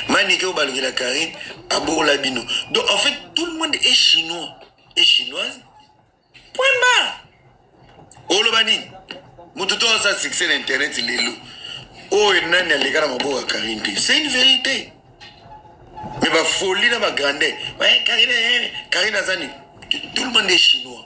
manike oyo balukela carine abokola bino donc en fait tout le monde est chinois et chinoise point barre oloba nini moto to asala succès na internet lelo oyo oh, nani aleka na maboko ya karine te c'est une vérité mais bafoli na bagrandeur karine eh, aza nini tout le monde est chinois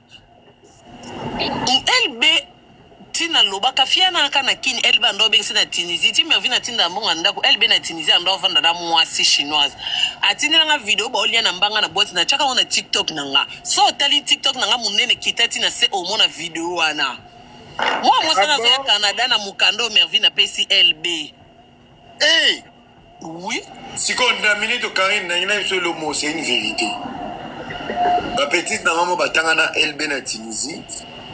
LB tina lobaka fiana aka na kin LB ando bengisi na Tunisie ti mervi na tinda mbonga ndako LB na Tunisie ando vanda na mwasi chinoise atindela nga video ba olia na mbanga na boîte na chaka na TikTok na nga so tali TikTok na nga munene kita tina se omona video wana mwa mwasi na zo ya Canada na mukando mervi na pesi LB Hey! Oui. Sikoyo na minute Karine nangi na biso elomo c'est une vérité. Ba petite na mama batanga na LB na Tunisie.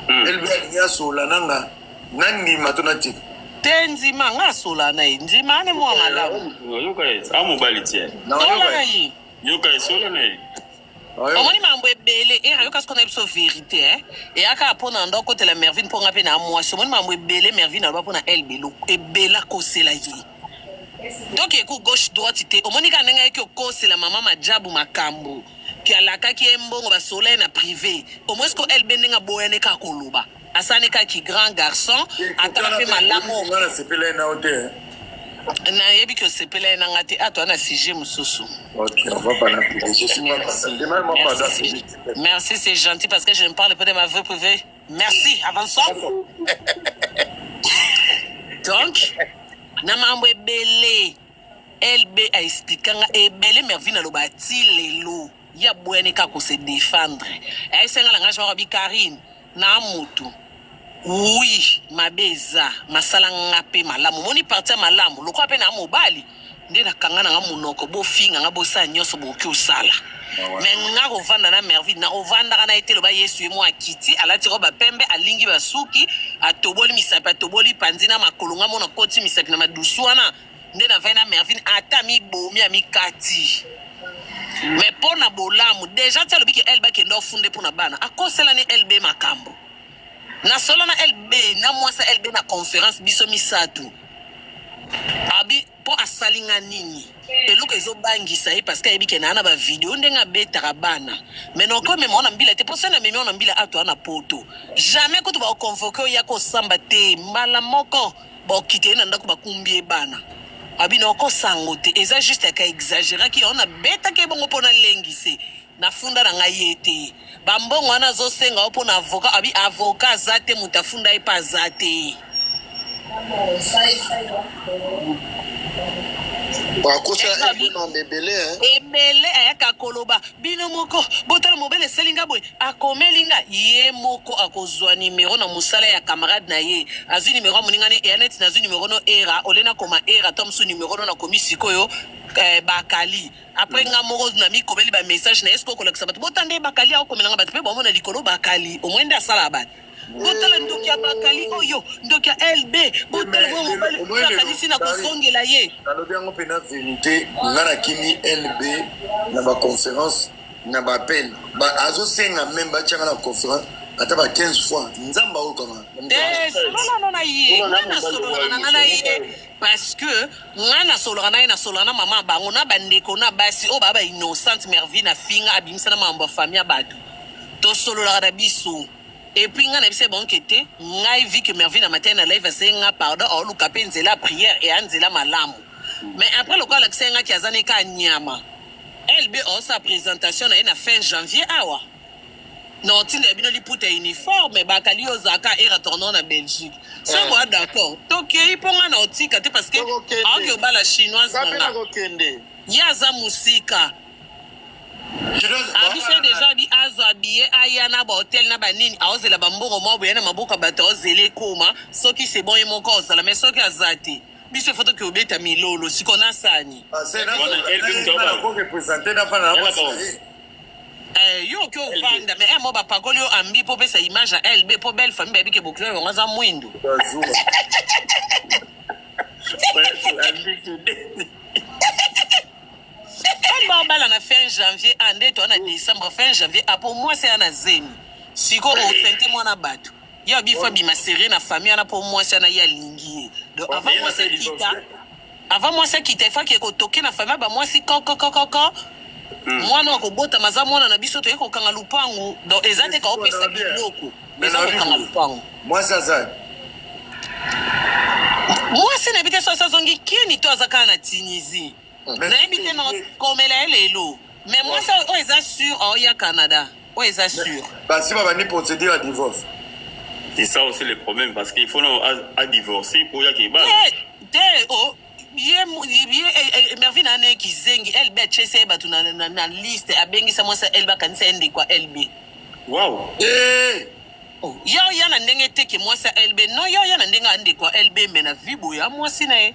Mm. LB alingi asola nanga na ndima to na tika. Te nzima nga asola na ye nzima ane mwa malamu. Yoka ye, amobali tie. Tola na ye. Yoka ye, sola na ye. omoni mambo ebele era yoka sikoyo na biso verité eh? eyaka mpo na ndo akotela mervine mpo nga mpe na mwasi omoni mambo ebele mervine aloba mpo na elbelo ebela kosela ye donc eku gauche droite te omoni kaka ndenge ayaki okosela mama majabu makambo ke alakaki ye mbongo basolola ye na privé omoni sikoyo elbe ndenge aboyani kaka koloba asani kaka ki grand garçon atala mpe malamu nga nasepela ye nao te nayebi ke osepela ye na nga te ato ana sujet mosusu merci c'est gentil parce que je ne parle pas de ma vie privée merci avançons donc na mambo ebele lb aexplika nga ebele mervine aloba ti lelo ya bwene ka ko se defendre eh, esenga langage moko bi Karine na mutu oui mabe eza masala nga mpe malamu moni parti ya malamu lokola mpe na mobali nde nakanga nanga monoko bofinga nga bosala nyonso bokoki osala me nga kovanda na merville nakovandaka na ye te loba yesu ye mwa akiti alati roba pembe alingi basuki atoboli misapi atoboli panzi na makolo nga mona koti misapi na madusu wana nde na vai na mervine ata mibomi amikati me mpo na bolamu deja ti alobi ke elbe akende ofunde mpo na bana akosela ni elbe makambo na solo na elbe na mwasi elbe na conference biso misato abi mpo asali nga nini eloko ezobangisa ye parce que ayebi ke naa na bavideo ndenge abetaka bana me naokomema ona mbila te mpo se na memi ona mbila ato ana poto jamais kutu baoconvoke oya kosamba te mbala moko Bokite na ndako bakumbie bana. Abino oko sango te eza juste ka exageraki on abetaki ebongo pona lengi se na funda na ngai ye te bambongo wana azosenga yo mpona avoka abi avoka aza te moto afunda ye mpe aza te ebele ayaka koloba bino moko botala mobele esali nga boye akomeli nga ye moko akozwa numero na mosala ya camarade na ye azwi numero ya moninga ne eya neti nazwi numero no era ole nakoma era to mosusu numero no nakomi sikoyo eh, bakali apres nga moko namikomeli bamessage na ye soki okolakisa bato botande bakali akomelanga bato mpe bomona likolo bakali omwende asala bato botala ndoki ya bakali oyo ndoki ya lb botala mwa mobali oyo akanisi na kozongela ye nalobi yango mpe na verite nga nakimi lb na baconférence na bapele azosenga meme batyanga na conférence ata ba 15 fois nzambe aokanga eh, sololana na ye nga nasololana na ye parce que nga nasolaka na ye nasolaka na mama bango na bandeko na basi oyo baa ba innocente mervie na finga abimisa na makambo ya famille ya bato tosololaka na biso epuis nga na biso ebonke te ngai vi que mervie na matali na live aseye nga pardon aoluka mpe nzela prière e anzela malamu mais après lokola alakisaki ngaki aza neka nyama lb osa présentation na ye na fin janvier awa non ntina ya bino liputa uniforme bakali yo ozalaka era tournant na belgique sango a d'accord tokei mpo ngai na otika te parce que aoki obala chinoise nanga ye aza mosika abise deja abi azwa biye aya na bahotel na banini aozela bambongo mwa boya na maboko ya bato aozela ekoma soki sebon ye moko ozala mai soki aza te biso foto ke obeta milolo siko na sani eh, yo oke ovanda me emo eh, bapakoli yo ambi mpo opesa image ya lb mpo belle famille bayebi ke bokilo yango aza mwindu babala na fin janvier a ah, nde toa na décembre fin janvier apo ah, mwasi aya na zemi sikoyo osente mwana bato ya bi faut abima serie na famille wana mpo mwasi wana ye alingi ye donc avant mwasi akita avant mwasi akita efaki ekotoke na famille ba mwasi kokokokoko hmm. mwana wa kobotama aza mwana na biso toye kokanga lupangu donc eza te kaopesa biloko eza kokanga lupangu mwasi aza mwasi na yebi te soki azongi kini to aza kaka na tunisie nayebi te nakomela ye lelo mais mwasi oyo eza sur aoya canada oyo eza sur basi babandi procédure ya divorce c'est ça aussi le problème parce qu'il faut non à divorcer pour ya keba te oh ye ye eh, eh, mervine ane kizengi lb atyesi ye bato na liste abengisa mwasi ya lb akanisa ye ndeko ya lb wow. hey! Eh! Oh, yo ya na ndenge te ke mwasi ya lb no yo ya na ndenge ya ndeko ya lb me na vibo ya mwasi na ye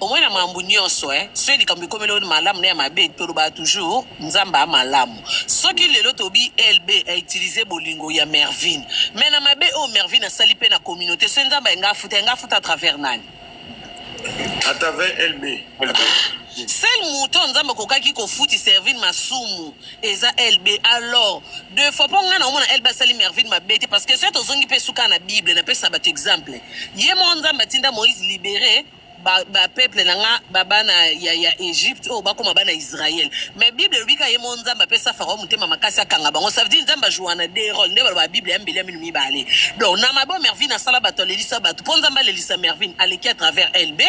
Omoni na makambo nyonso eh, soki likambo ekomeli yo malamu na ya mabe, tolobaka toujours Nzambe a malamu. Soki lelo tobi LB a utiliser bolingo ya Mervine, mais na mabe oyo Mervine asali pe na communauté, soki Nzambe alinga afuta, alinga afuta à travers nani? À travers LB. Sel moto Nzambe akokaki kofuti Servine masumu eza LB. Alors, deux fois mpo ngai naomona LB asali Mervine mabe te parce que soki tozongi mpe suka na Bible napesa bato exemple ye moko Nzambe atinda Moïse libere ba, ba peuple na nga ba bana ya, ya Egypte oyo oh, bakoma bana Israël mais Bible elobi ka ye mo Nzambe apesa Farao motema makasi akanga bango ça veut dire Nzambe ajoua na deux rôles nde baloba Bible ya mbeli ya minu mibale donc na mabe oyo Mervine asala bato alelisa bato mpo Nzambe alelisa Mervine aleki à travers LB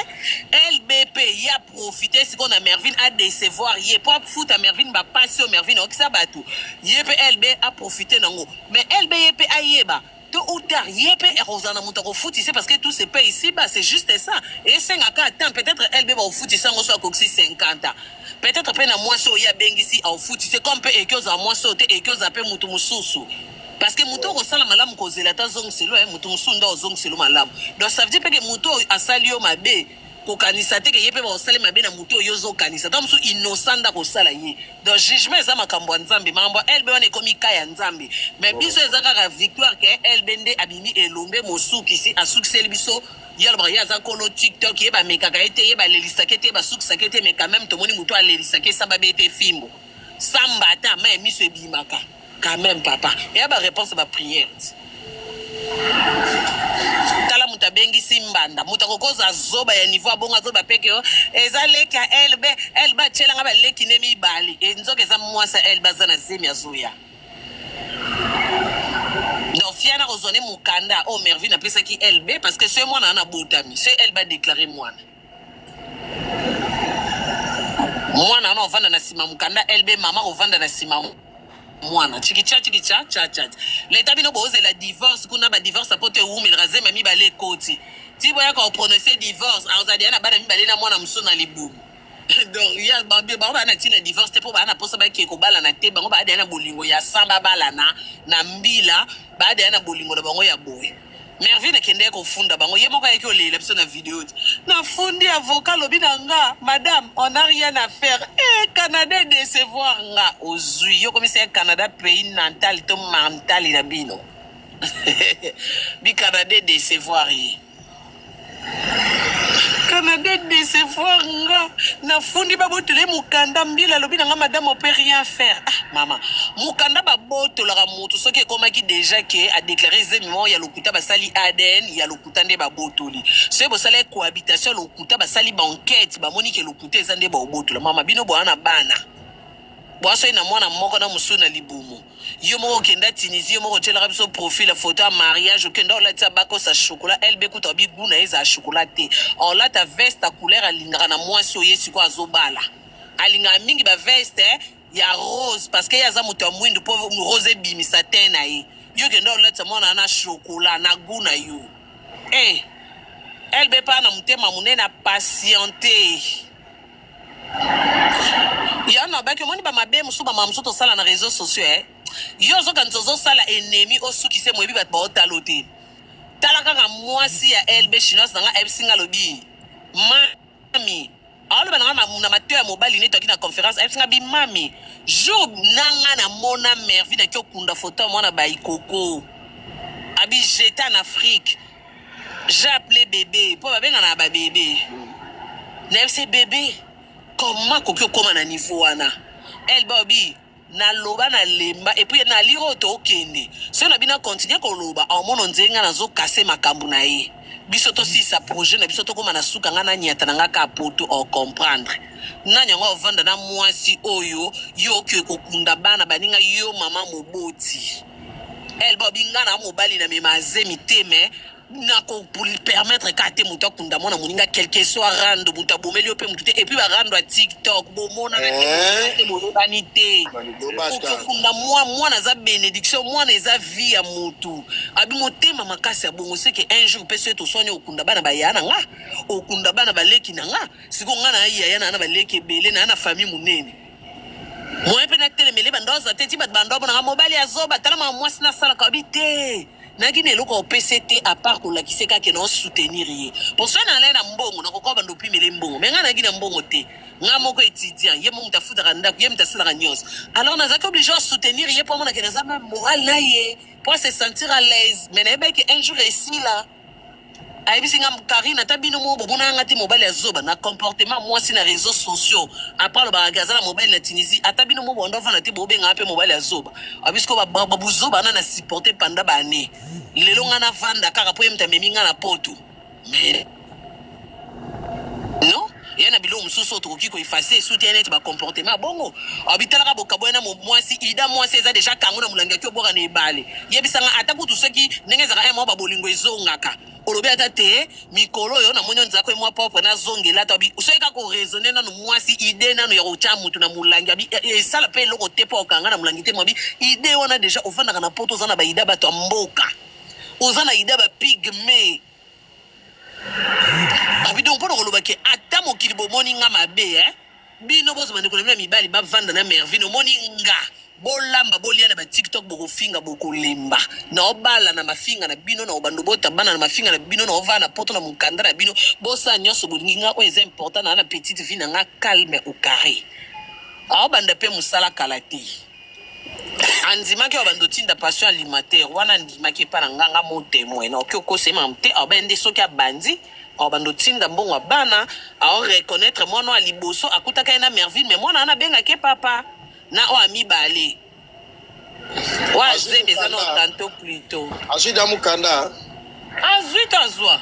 LB mpe ye aprofite sikoyo na Mervine adecevoir ye mpo afuta Mervine bapasi oyo Mervine aokisa bato ye mpe LB aprofite nango mais LB ye mpe ayeba Tôt ou tard, ye pe ekozala na moto akofutisa ye parce que tout se paye ici-bas, c'est juste ça. Esenga kaka temps, peut-être elle be bakofutisa yango soki akokisi 50 ans. Peut-être pe na mwasi oyo ye abengisi akofutisa ye, comme pe eke ozala mwasi oyo te, eke ozala pe moto mosusu. Parce que moto oyo kosala malamu kozela ata azongiselo ye, moto mosusu nde akozongiselo malamu. Donc ça veut dire pe ke moto oyo asali yo mabe, kokanisa te ke ye mpe bakosali mabe na moto oyo ozo kanisa ntango mosusu innocent nda kosala ye donc jugement eza makambo ya nzambe makambo ya elbe wana ekomi ka ya nzambe mais oh. biso eza kaka victoire ke elbe nde abimi elombe mosukisi asukiseli biso ye alobaka ye aza kolo tiktok ye bamekaka ye te ye balelisaka ye te ye basukisaka ye te mais quand même tomoni moto alelisaka ye samba be te fimbo samba ata ma ya miso ebimaka Quand même papa, il y a ba réponse ba prière. Tala muta bengi simbanda, muta kokoza zoba ya niveau abonga zoba peke yo. Eza leki ya elbe, elbe achela nga ba leki ne mibali. E nzoka eza mwasa elbe aza na zemi ya zuya. Donc fiana kozone mukanda o oh, Mervin apesaki elbe parce que ce mwana ana botami, ce elbe a déclaré mwana. mwana wana ovanda na nsima mokanda lb mama ovanda na nsima mwana chikicha chikicha chachat leta bino bozela divorce kuna badivorce apo to ewumelaka zema mibale ekoti ti boyaka oprononce divorce azali ya na bana mibale na mwana mosusu na libumu donc ya bango baa na ntina divorce te mpo baa na mposa bakee kobalana te bango baa deya na bolingo ya san babalana na mbila baa deya na bolingo na bango ya boye Mervine kende kofunda bango ye moko ayeki olelela biso na video ti nafundi avocat lobi na nga madame on a rien à faire e eh, canada decevoir nga ozwi yo komisa ya canada pays natal to mantali na bino bicanada decevoir ye canada decevoir nga nafundi babotole mokanda mbila alobi na nga madame ope rien faire ah, mama mokanda babotolaka motu soki ekomaki deja ke adeklare zemi moko ya lokuta basali adn ya lokuta nde babotoli soki bosala cohabitation ya lokuta basali baenquete bamoni ke lokuta eza nde baobotola mama bino boya na bana bwasoi na mwana moko na mosusu na libumu yo moko okenda tunisie yo moko otyelaka biso profil ya foto ya mariage okenda olatisa bakosa chokola lb kuta obi gu na ye ezala chokola te olata veste ya couleur alingaka na mwasi oye sikoyo azobala alingaka mingi baveste eh, ya rose parce que ye aza moto ya mwindu mpo rose ebimisa te na ye yo okenda olatisa mwana na chokola na gu na yo e eh, lb mpa na motema monene apatiente ya nabaki omoni bamabe mosusu bamama mosusu tosala na réseau sociaux eh? yo ozokanisa ozosala enemi osuki se moyebi bato baotalo te tala kaka mwasi ya lb chinoise na nga ayebisi nga alobi mami aoloba na nga na mateo ya mobali neti aki na conférence ayebisi nga bimami jour na nga namona mervi naki okunda foto ya mwana baikoko abijeta na afrique j'appelais bébé mpo babengana ba bébé nayebi se bébé comment akoki okóma na niveau wana elle bobi naloba nalemba epuis naliri oyo tokende soki na bino akontinue koloba aomono nzenge ngai nazokase makambo na ye biso tosisa projet na biso tokóma na suka ngai nanyata na ngai kaka poto ocomprendre nani yango ovanda na mwasi oyo yo oke kokunda bana baninga yo mama moboti El Bobby nga na mobali na mema zemi te mais nako permettre ka te moto akunda mwana moninga quelque soit rando moto abomeli yo mpe motu te epuis barando ya tiktok bomonana eh? te boyebani te okokunda mwa mwana aza bénédiction mwana eza vie ya motu abi motema makasi ya bongo seke un jour mpe soki toswani okunda bana baya na nga okunda bana baleki na nga sikoyo nga na yaya na na baleki ebele na ya na famille monene moyen mpe natelemele banda oza te ti bato banda omonaka mobali ya zoba tala mama mwasi nasalaka obi te naki na eloko opese te apart kolakise kake na osoutenir ye po soki nalai na mbongo nakokoba banda opimele mbongo me ngai naki na mbongo te ngai moko étudiant ye moko moto afutaka ndako ye moto asalaka nyonso alors nazalaki oblige osoutenir ye mpo amonake naza meme moral na ye mpo se sentir à l'aise me nayebaki un jour esila ayebisi nga karine ata bino moko bomonaka nga te mobali ya zoba na comportement mwasi na réseau sociaux apres alobaka ke aza na mobali na tunisie ata bino moko banda ofanda te bobengaka mpe mobali ya zoba abisiko babuzoba na na supporte panda baannée lelo nga navanda kaka mpo ye moto amemi nga na poto mais non eya na biloko mosusu oyo tokoki koefase esuti neti bacomportement ya bongo obitalaka bokaboya na mwasi ida mwasi eza deja kango na molangi yaki obwaka na ebale yebisanga ata kutu soki ndenge ezalaka mwa babolingo ezongaka olobi ata te mikolo oyo namoni oyo nzako emwa propre nazongela ata bi soki kaka oraisonne nano mwasi ide nano ya kotya motu na molangi abi e, e, esala mpe eloko te mpo okanga na molangi te mwabi ide wana deja ofandaka na poto oza na baida bato ya mboka oza na ida bapigme Abidon mpo na koloba ke ata mokili bomoni nga mabe eh? bino bozo bande kolobela mibali bavanda na mervine omoni nga bolamba bolia na batiktok bokofinga bokolemba na obala na mafinga na bino na obando bota bana na mafinga na bino na ovaa na poto na mokanda na bino bosala nyonso bolingi nga oyo eza important na na petite vie na nga calme au carré aobanda mpe mosala kala te andimaki oyo bando tinda passion alimentaire wana andimaki epa na nganga mo temoin na oki okosema te aobe nde soki abandi awa bando tinda mbongo ya bana ao reconnaître mwana oyo ya liboso akutaka ye na merville mais mwana wana abengaki ye papa na oyo ya mibale oyo azemi eza na tanto plutot azwi da mokanda azwi tazwa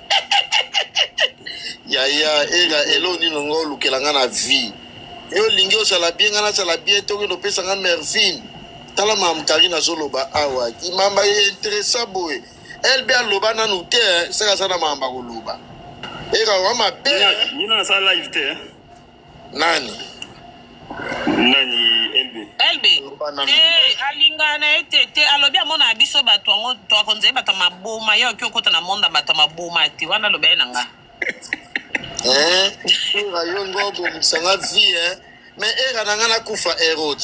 yaya ega elo nini nga olukela nga na vie yo olingi ozala bie nga nazala bie te okende opesa nga mervine tala mamu karine azoloba awa kimamba ye interesa boye lb aloba nanu te saka aza na mamu bakoloba ega wa mabe nani nani elbe elbe eh, alingaka na ye te te alobi amonaka biso bato yango toakonzali bato ya maboma ye oki okota na monde ya bato ya maboma te wana alobi ye na nga eh, yo ngo obomisa nga vie mais era na nga nakufa erode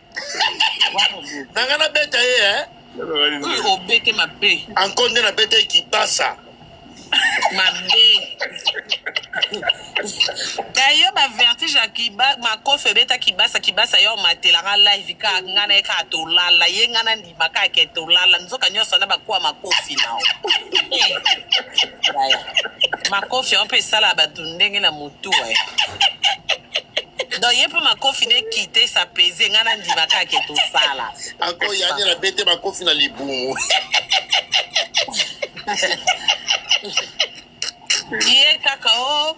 na nga nabeta ye eh? obete mabe anko nde nabeta ye kipasa mabe daye bavertige ya makofi ebeta kibasa kibasa yo omatelaka live kaka ngai na ye kaka tolala ye ngai na makake tolala nzoka nyonso na bakuwa makofi nao makofi yango mpe esala bato ndenge na motu e donc ye mpe makofi nde kite sa pese ngai nandima kake tosala akoyani na bete makofi na libumu ye kaka o oh.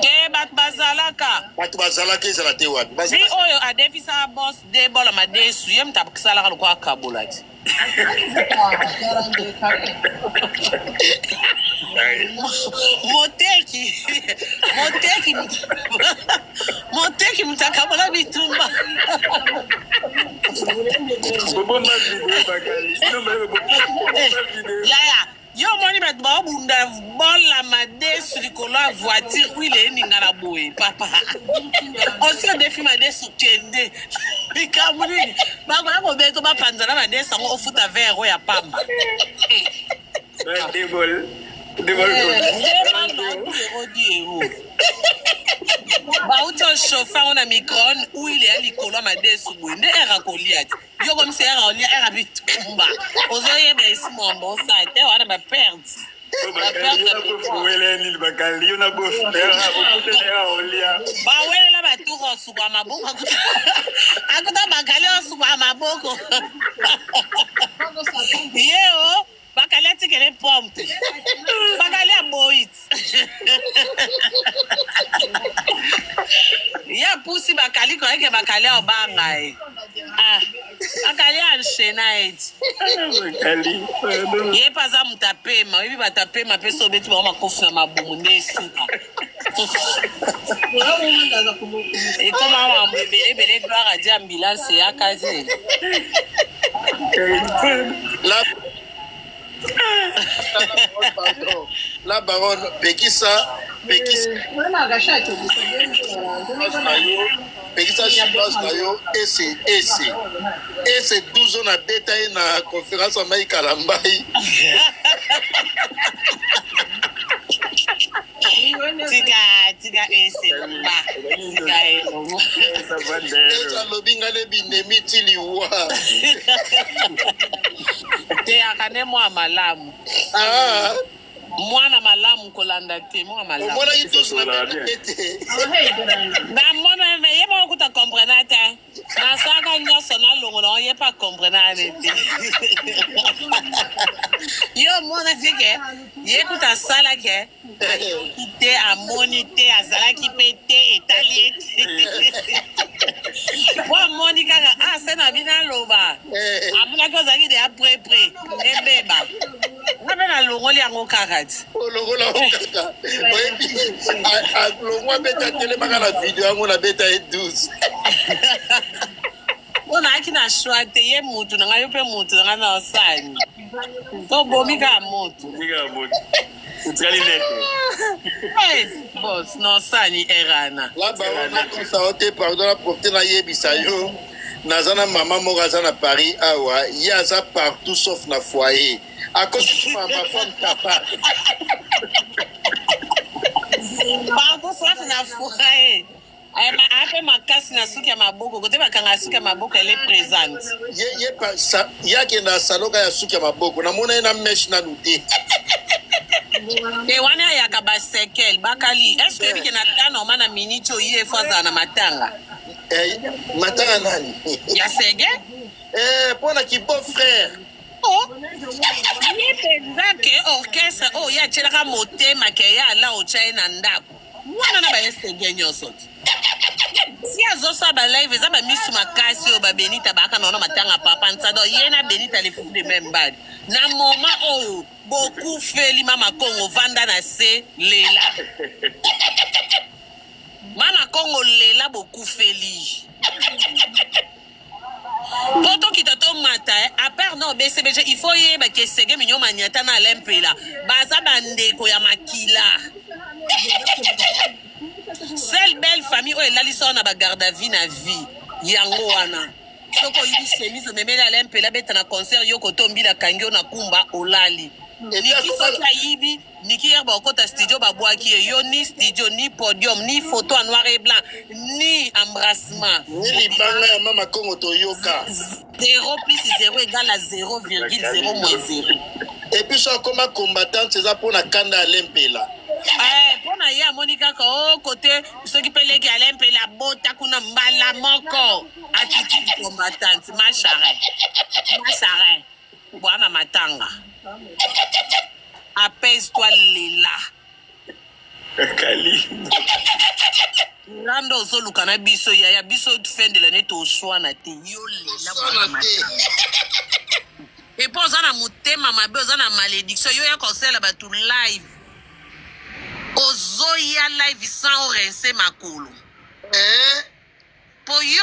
te bato bazalaka bato bazalaka ezala te wapi vi oyo adefisa bos de bola madesu ye moto asalaka lokola akabola ti moteki moteki moteki moto akabola bitumba yaya yo omoni bato baobunda bola madesu likolo ya voiture wile eninga na boye papa osi odefi madesu kende likambo nini bakoya kobeta bapanzana madesu yango ofuta vere oyo ya pamba bauti oshofa yango na microne wile ya likolo ya madesu boye nde ere akolia te yo komisera olia era bitumba ozoyeba esi mwamba osala te wana baperte bawelela baturu osuka maboko akuta bakali osuka maboko yeo bakali atikele pome te bakali aboyi ye apusi bakali koyeke bakali abanga ye ah, bakali anshena eti ye mpe aza moto apema oyebi bato apema mpe so obeti bango makofi na mabumu nde esuka ekoma mambo ebele ebele gloire adi ambulance eyaka te la baronne pekisa pekisa pekisa chinoise na yo ese ese ese 12 na beta ye na conférence amai kalambai tika tika ese loba tika ye loba ese alobi ngai ne binemi ti liwa teyaka ne mwa malamu ah. mwana malamu kolanda te mwana malamu omonaki tous na meme te namona me ye moko kuta comprena te nasaka nyonso nalongola ngo ye pa comprena ne te yo omona te ke ye kuta asala ke ayoki te amoni te azalaki mpe te etali ye te po amoni kaka ase ah, na bino aloba eh. amonaki ozalaki deya prepre ebeba nga mpe nalongoli yango kaka ti olongola yango kaka oyebi alongwa beta telemaka na video yango na beta ye 12 mpo naaki na shoi te ye motu na ngai yo mpe motu na ngai na osani tobomi kaka motu otikali nete bos na osani erana labaonakosa yo te pardon na profite nayebisa yo naza na mama moko aza na paris awa ye aza partout sauf na foyer akosukuma mafam tapa partout sauf na foyer ape makasi na suki ya maboko kote bakanga suki ya maboko ele présente ye akenda asaloka ya suki ya maboko namona ye na meshe nanu te te wana ayaka basekele bakali eske ebike na tanoma na miniti oyo ye efo azala na matanga Eh, matanga nani ya sege eh, mpo na kibo frère oh. ye mpenza ke orchestre oyo oh, ye atyelaka motema ke ye ala otya ye na ndako wana na baye sege nyonso ti si azosala balive eza bamisu makasi oyo babenita baaka naona matanga papa nsado ye na benita lefufu de meme bali na moma oyo bokufeli mama kongo vanda na se lela Bana Congo lela bokufeli. po tokita tomata eh. apart no bcbg il faut yeba ke sege minyo maniata na alain mpela baza bandeko ya makila sel belle famille oyo elalisi wana bagarde a vie na vie yango wana soki oyibi chemise omemeli alain mpela beta na concert yo kotombila kangi yo na kumba olali eliki soki ayibi Niki hier bakota studio babwaki ye yo ni studio ni podium ni photo en noir et blanc ni embrassement ni libanga ya mama kongo toyoka 0 plus 0 égale à 0,0 moins 0 epuis so akoma combattante eza mpo na kanda alempela eh, mpo na ye amoni kaka o oh, kote soki mpe leki alempela bota kuna mbala moko attitude combattante ma charette ma charette Bwana matanga. Apaise toi lela. Kalimbo. Rando ozoluka na biso yaya biso fin de l'année toswana te yo lela bwana matanga. epo oza na motema mabe oza na malédiction yo ya kosala bato live ozoya live sans orense makolo eh? po yo